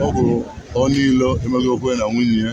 ọ bụ onyeilo emegokwue na nwunye ya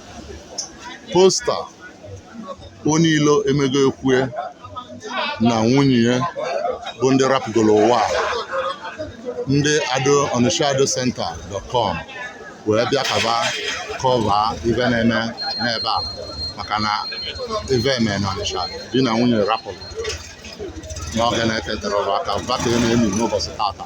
poster onyeilo emegokwue na nwunye ya bụ ndị rapụgoro ụwa a. ndị ado onitsha ado center dot com wee bịa ka ba cover ive na-eme n'ebe a maka na ive eme na onitsha di na nwunye rapụlụ n'oge na-eteterọ aka va ka a na-eni n'ụbọsị tata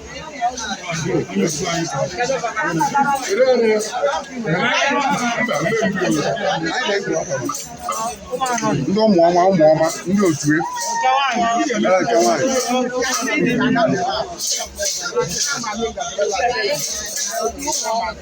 ndị ụmụ ọma ụmụ ọma ndị otu e. Eke nwaanyị.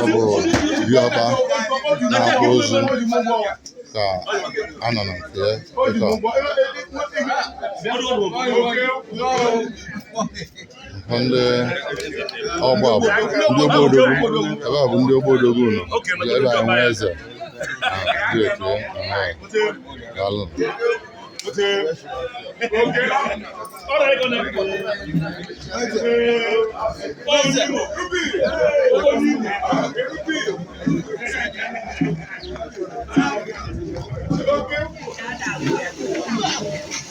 ọ bụ diọkpa na-akpụ ozu ka a nọ na nke ya dịka bụ ndị ọgba bụ ndị ogbodogwu ebe a bụ ndị ogbodogwu nọ ebe a nwe eze dị otu daalụ Okay.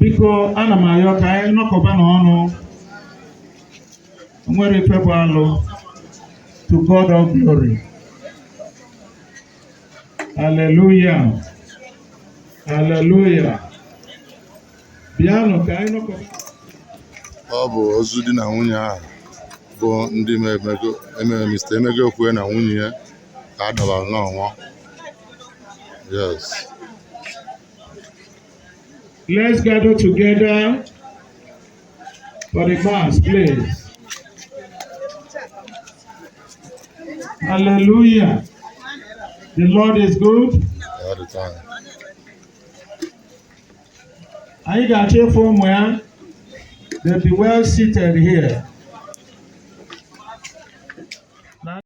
biko ana m ayọ ka anyị nọkọba na ọnụ nwere ife bụ alụ to God of glory hallelujah hallelujah bịanụ ka anyị nọkọba ọ bụ ozu di na nwunye ahụ bụ ndị emere mista emegokwue na nwunye ya ka a dọbalụ n'ọnwa yes Let's gather together for the mass, please. Hallelujah. The Lord is good. All the time. Anyị ga-achọ ịfụ ụmụ ya. They'll be well seated here.